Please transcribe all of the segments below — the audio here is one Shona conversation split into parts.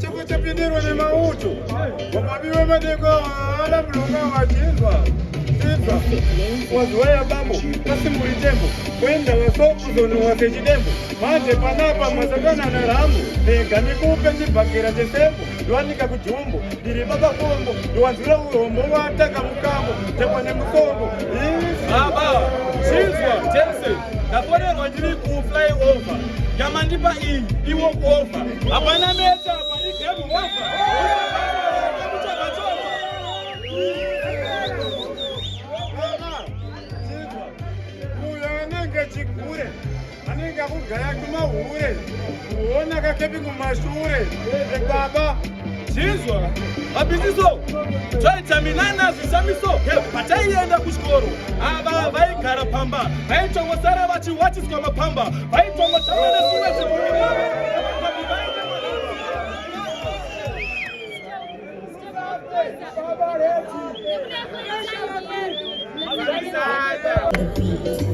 Chipo chapindirwa nemauto wamabiwe madeko haana mlonga wachinzwa inzwa waziwa yabambo kasimburi tembo kuenda waso kuzonowa sechidembo manje panapa masakana narambo rega nikupe chibhakera chesembo ndiwanika kujumbo ndiri baba kombo ndiwanzwira urombo wataka mukambo chakwa nemusongo baba chinzwa tense ndafonerwa ndiri kufly over yamandipa iyi iwo kuova hapana meta apa igame over chigure anenge akugaya kumahure kuona kakepi kumashure ebaba Chinzwa mabhiziso twaitaminana zvishamiso pataienda kuchikoro ava vaigara pamba vaitongosara vachiwatiswa mapamba vaitongotamba nezvimwe zvinhu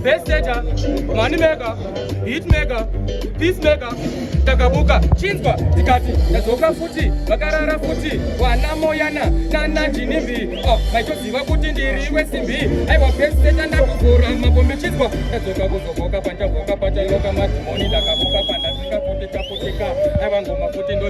Best setter, money maker, hit maker, peace maker, takabuka chinzwa tikati tadzoka futi vakarara futi wana moyana nana jinimbi oh, maitoziva kuti ndiriwe simbi aiwa best setter ndakuvhura mapombi chinzwa tadzoka kuzogoka pandavoka patairoka madhimoni takabuka pandasika futi taputeka aiwa ngoma futi ndo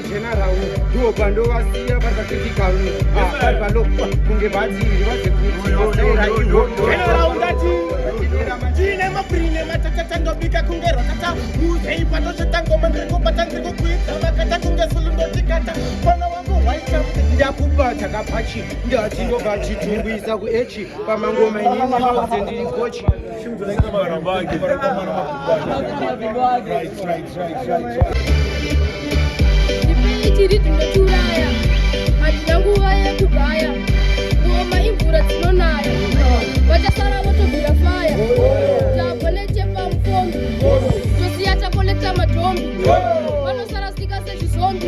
Tena rau ndiwo pandovasiya pasakitikanu vari palo kunge bhazi ndivaze kuiaaiine maprine matatata ndobika kunge rotata muzei patozvitangoma ndiri kubata ndiri kukwidza makata kunge sulu ndotikata mwana wangu waita ndakupa chakapachii ndati ndobva chitumbisa kuechi pamangoma inini mauze ndiri kochi tiri tinotiuraya hatina nguva yekugaya kuoma imvura dzinonaya vachasara votobvira faya tabwa nechepa mufombi tosiya takolekta matombi vanosara sika sezvizombi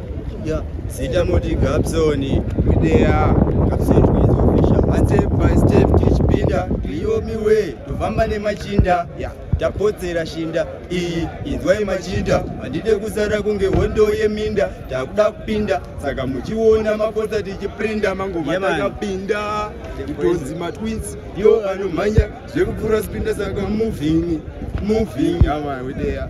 Yeah. Zita moti Gabson Kidea Gabson Kidea official. One step by step teach pinda Rio mi way tofamba nemachinda yeah. tapotsera shinda iyi inzwai machinda handide kusara kunge hondo yeminda takuda kupinda saka muchiona mapotsa tichiprinda mangoma takapinda kutonzi matwins yo anomhanya zvekupfuura spinda saka moving moving amawedeya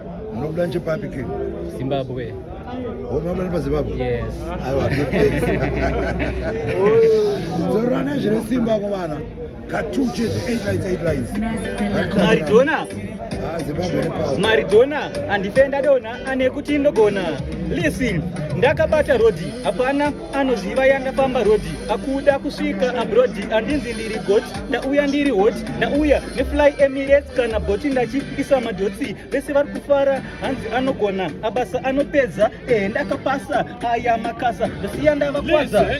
Munobuda nchepapi ke? Zimbabwe. Homa mwana paZimbabwe? Yes. Aiwa. Zorora nezvine simba kuvana. Katu chete 8 lines 8 lines. Maridona. Ah, Zimbabwe nepawo. Maridona andifenda dona ane kuti ndogona. Listen, ndakabata rhodhi. Hapana anoziva yandafamba rhodhi akuda kusvika abrodi andinzi ndiri got ndauya ndiri hot ndauya nefly emirates kana boti ndachiisa madhotsi vese vari kufara hanzi anogona abasa anopedza ehe ndakapasa aya makasa ndosiya ndavakwadza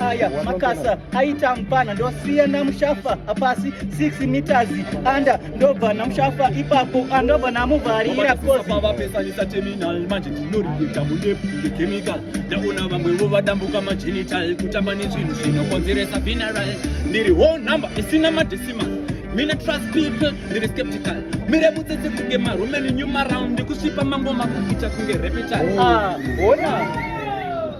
aya makasa aita mupana ndosiya namushafa pasi 6 meters anda ndobva namushafa ipapo andobva namuvharira kozivapesanisa terminal manje ndinoriita mudepu ngechemical ndaona vamwevo vadambuka magenital kutamba nezvinhu zvinokonzeresa vineral ndiri whole number isina madecimal mina trust people ndiri skeptical mire mutsetse kunge maromeni new maround ndikusvipa mangoma kuita kunge repetal ah, ona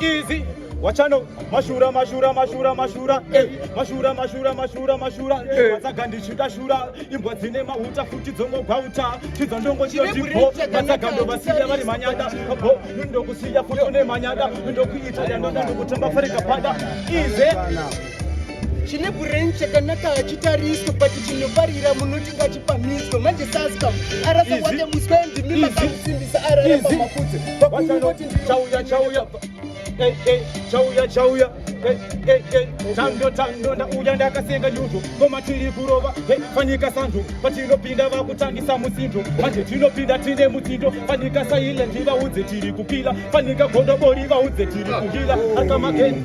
Easy. Wachano mashura mashura mashura mashura eh. mashura mashura mashura mashura eh. matsaga ndichida shura imbwa dzine mahuta futi dzongogwauta chidzo ndongochiyotipo matsaga ndovasiya vari manyada bo ndokusiya futi une manyada ndokuita yandoda ndokutamba farika pada ize chine brain chakanaka hachitariswe but chinoparira munoti ngachipamiswe manje saskam arasa wake muswe ndimi makamusimbisa araramba mafudze vakuungoti chauya chauya eh, eh, chauya chauya eh, tando tando ndauya ndakasenga nyuzo koma tiri kurova fanika sanzo patinopinda vakutangisa musindo manje tinopinda tine mutsindo fanika silent vaudze tiri kupila fanika gondobori vaudze tiri kuhila akamageni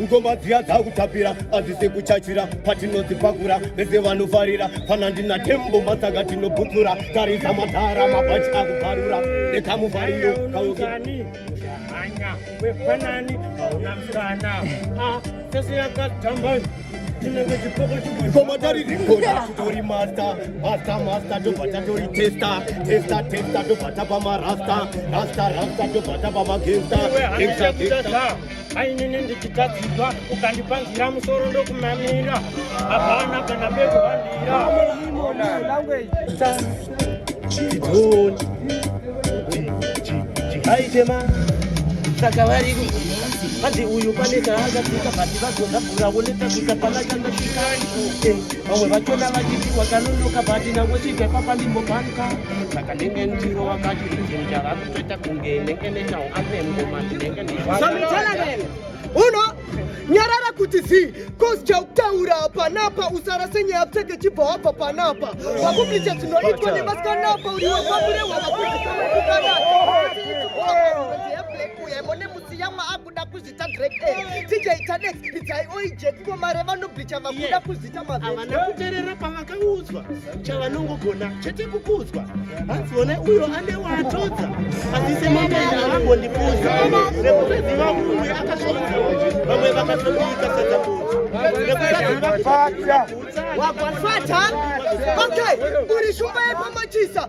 ngoma dziya dzakutapira adzise kuchachira patinodzipakura vese vanofarira fana ndina tembo masaka tinobutsura tarisa madhara mabhachi akubvarura nekamufariro kaukani hanya wepanani hauna msana a sese yakatamba ngoma tari rikona titori masta masta masta tobva tatori testa testa testa tobva tapa marasta rasta rasta tobva tapa magesta ainini ndichitadzidwa ukandipanzira musoro ndokumamira hapana kana bekuhandira aitema saka vari hanzi uyu pane kaakasika bati vazonda bvura woneta kuita pakachanda chikai eh, vamwe vachona vachitiwa kanonoka bati nango chibva papa ndimbobanka saka ndenge ndiro wakati rinjenjaraku uno nyarara kuti zii cause chautaura panapa usarase nyaya pfeke chibva wabva panapa wakublicha dzinoitwa nevasikanapa uri wababure wavakuiaa Ita great A, TJ Tanex, Idzai Oije, Kuko Mare vanoblicha vakuda Yeah. kuzita mavheti. havana kuterera pavakaudzwa chavanongogona chete kukudzwa hanzi one uyo ane waatodza asi semabenda havambondifunza nekusaziva umwe akasvonza vamwe vakatomuika sadzamudzi nekusaziva Fata. Wagwafata? Okay, uri shumba yepamachisa.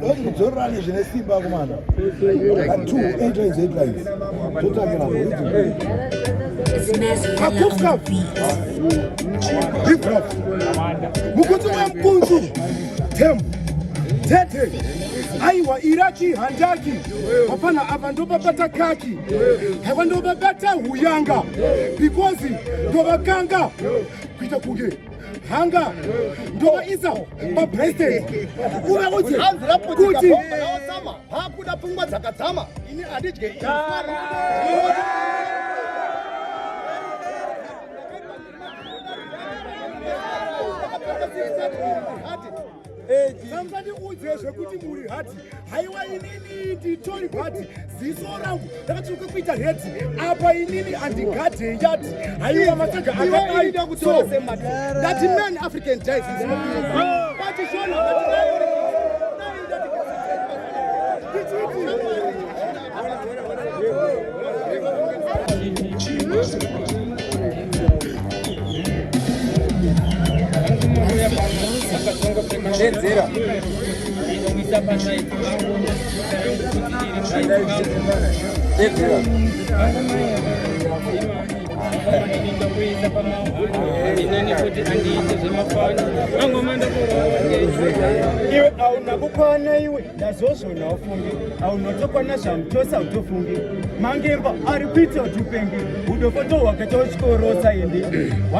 Doti kudzorerane zvine simba kumana. Two eight lines eight lines. Totakira kuridzi. Kakufka. Hip hop. Mukuti wampunzu. Tembo. Tete. aiwa iraki handaki hapana apa ndobabata kaki haiwa ndobabata huyanga because ndovakanga kuita kunge hanga ndovaisa papresident uvaudze kuti hakuda pfungwa dzakadzama ini handidye Vamfandiudze zvekuti muri hati haiwa inini nditori bhati ziso rangu rakatsvuka kuita heti apa inini andigade yati haiwa matsaga akadai so that man African dies is not oh. but shona Iwe auna kukwana iwe ndazozvona ufungi aunotokwana zvamu chose autofungi mangemba ari kuita kuti upengi udofoto hwakaita uchikorosa ende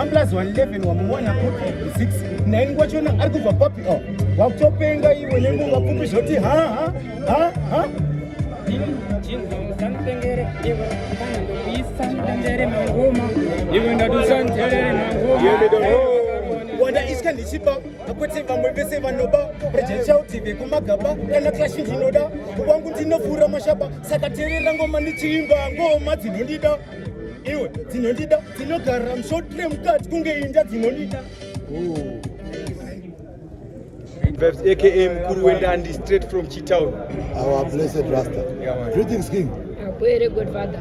one plus one eleven wamuwana kupi six nine wachona ari kubva papi o oh, wakutopenga iwe nenguva pfupi zvoti ha ha ha ha iwe ndatusanzerere mangoma wanda iska ndichipa kuti vamwe vese vanoba rejechaudi vekumagaba kana klashi ndinoda wangu ndinofura mashaba saka terera ngoma ndichiimba ngoma dzinondida iwe dzinondida dzinogara mushotre mukati kunge inda dzinondida Vibes, aka mkuru wendandi straight from chitown our blessed rasta yeah, greetings king Akwere godfather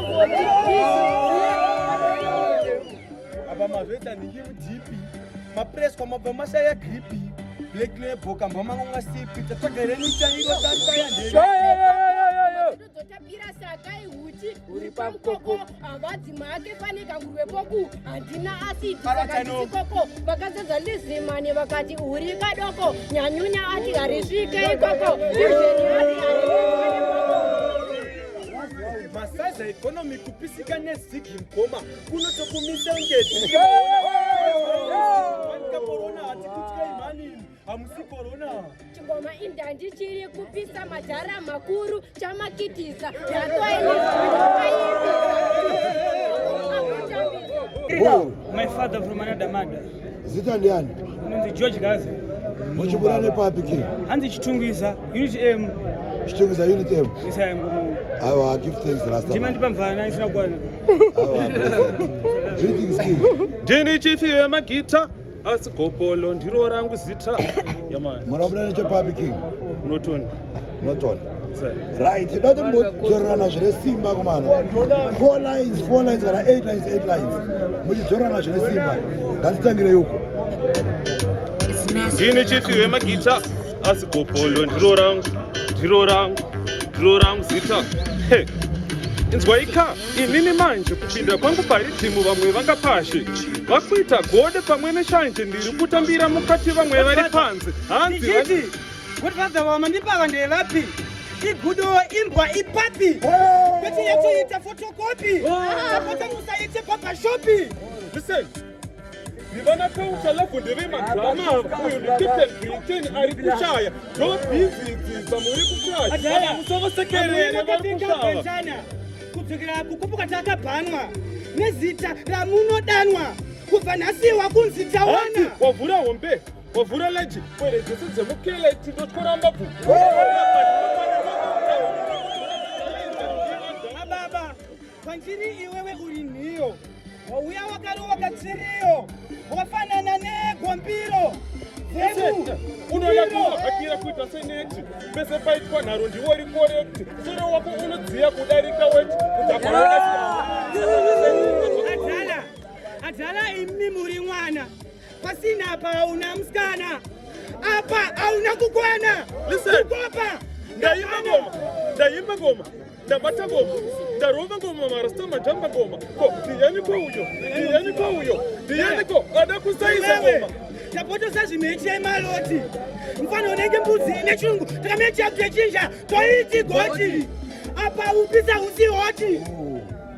apa mazvoita nhingi mudhipi mapreswa mabva mashaya gripi black label kambwa mangu ngasipi tatsvaga renyu chairo tataya ndeyotapira sakai huti uri pamukoko havadzi make pane kangurwe poku handina asidi sakaisikoko vakazadza lizimane vakati uri kadoko nyanyunya ati harisvike ikoko Masaza economy kupisika nezigi mkoma kunotokumisa ngeti. Wanikaporona hatikutya imani hamusi korona. Chingoma indandi chiri kupisa madhara makuru chamakitisa. Boo. My father from another mother. Zita ndiani? Ndi George Gaza. Muchibura nepapi ke? Hanzi Chitungwiza, Unit M. Chitungwiza Unit M. Yes, I am going. Awa, give thanks last time. Ndimandipa mvana isina kwana. Awa. Greetings king. Ndini chief yemagita asi gopolo ndiro rangu zita. Yamani. Murabura nechepapi king? Unotoni. Norton. Right, dati muchidzorerana zvine simba kumana. Four lines, four lines kana eight lines, eight lines. Muchidzorerana zvine simba. Ngatitangire yuko. Ndini chifi wemagita asi gopolo ndiro rangu, ndiro rangu, ndiro rangu zita. Hey. inzwaika inini manje kupinda kwangu paridhimu vamwe vangapashe vakuita gode pamwe neshanje ndiri kutambira mukati vamwe vari panze hanzi Godfather wamandipaka ndevapi? Igudo imbwa ipapi? Kuti yatoita photocopy. Tapota musaite papa shopi. Listen. Ndivana kaucha lavo ndeve madrama uyu ndikipten Britain ari kushaya ndobhizi dzidza muri kushaya. Adhaya musoro sekerere vari kushaya. Kudzokera kukupuka takabhanwa nezita ramunodanwa kubva nhasi wakunzi tawana. Wavhura hombe. Wavhura leji pwere dzese dzemukele tindotyora mbabvu. Ababa, kwandiri iwewe uri nhiyo. Wauya wakarova katsiriyo. Wafanana negombiro. unoyatohakira kuita seneti pese paitwa nharo ndiwo uri korekti soro wako unodziya kudarika weti kutaadhala adhala imi muri mwana Pasina apa hauna musikana. Apa hauna kukwana. Listen. Kukopa. Ndaimba ngoma. Ndaimba ngoma. Ndabata ngoma. Ndarova ngoma marasta majamba ngoma. Ko ndiyani ko uyo. Ndiyani ko uyo. Ndiyani ko ada kusaisa ngoma. Tapotosa zvimeche maloti. Mfana unenge mbuzi ine chungu. Takamenya chakutechinja. Toiti goti. Apa upisa usi hoti. Oh.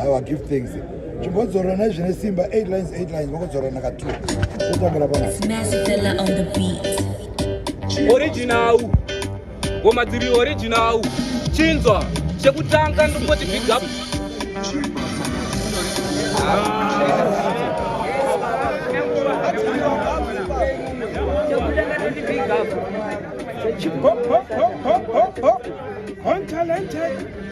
Awa give thanks. Chimbodzora na zvine simba 8 lines 8 lines vokodzora na ka 2. Kutambira pana. Snazzy fella on the beat. Original. Ngoma dziri original. Chinzwa chekutanga ndopoti big up. Chipop, pop, pop, pop, pop, pop, untalented.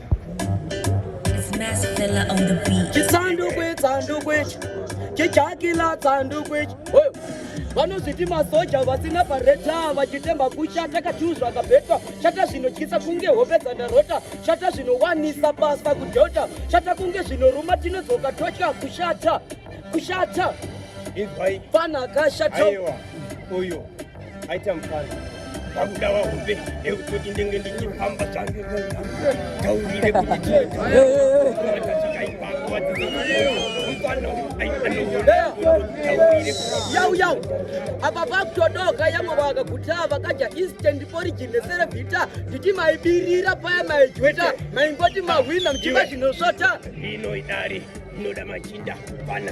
Chisandukwe, tsandukwe, chijakila tsandukwe. Oyo. vanozviti masoja vasina pareta vachitemba kushata katiu zvakabetwa shata zvinotyisa kunge hope dzandarota shata zvinowanisa basa kudhota shata kunge zvinoruma tinodzoka totya kushata kushata izwai fana kashata uyo aita mufaro pakuda wahombe ekutoti ndenge ndichifamba zvange taurire kuti yau yau apa pakutodoka yamwe vakaguta vakaja instant origin neserevhita nditi maibirira paya maijweta maingoti mahwina mchiva zvinosvota inoidari inoda machinda pana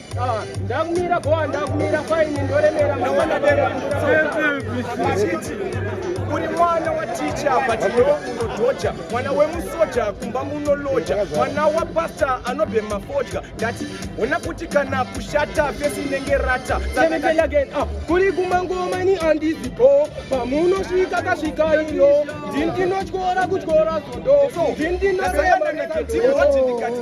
Ah, ndakumira boa ndakumira faini ndoremera machiti uri mwana waticha but iwe unodhoja mwana wemusoja kumba munoloja mwana wapasta anobhema fodya ndati hona kuti kana kushata fesi inenge rata ah, kuri kumangomani andizi bo pamunosvika kasvika iyo ndini ndinotyora kutyora zondo ndini ndinosayamanakatiwati ndikati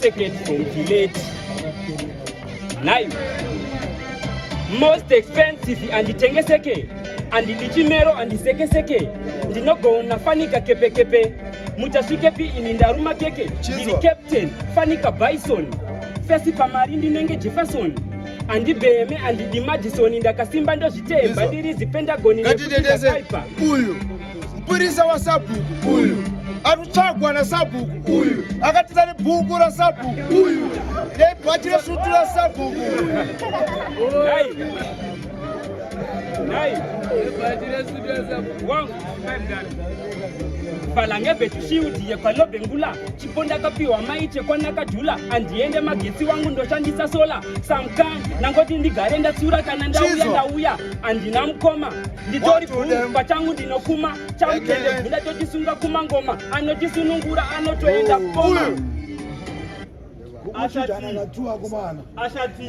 Second from village. Nine. Most expensive and tengeseke and ndichimero and sekeseke ndinogona fanika kepekepe muchasvikepi ini ndaruma keke ndiri captain fanika bison fesi pamari ndinenge jefferson andibheme andidimadisoni ndakasimba ndozvitemba ndiri zipendagoni nekuipa uyu Mpurisa wa sabhuku uyu anotsvagwa na sabhuku uyu akatiza ne bhuku ra sabhuku uyu ne bhachi re sutu ra sabhuku valange vetushiudiye kwalobengula chipo ndakapiwa maiche kwanakajula andiende magetsi wangu ndoshandisa sola samkan nangoti ndigare ndatsiura kana ndauya ndauya andina mukoma nditori bhuru pachangu ndinokuma chamutende bvunda tochisunga kumangoma anochisunungura anotoenda kukoma ashati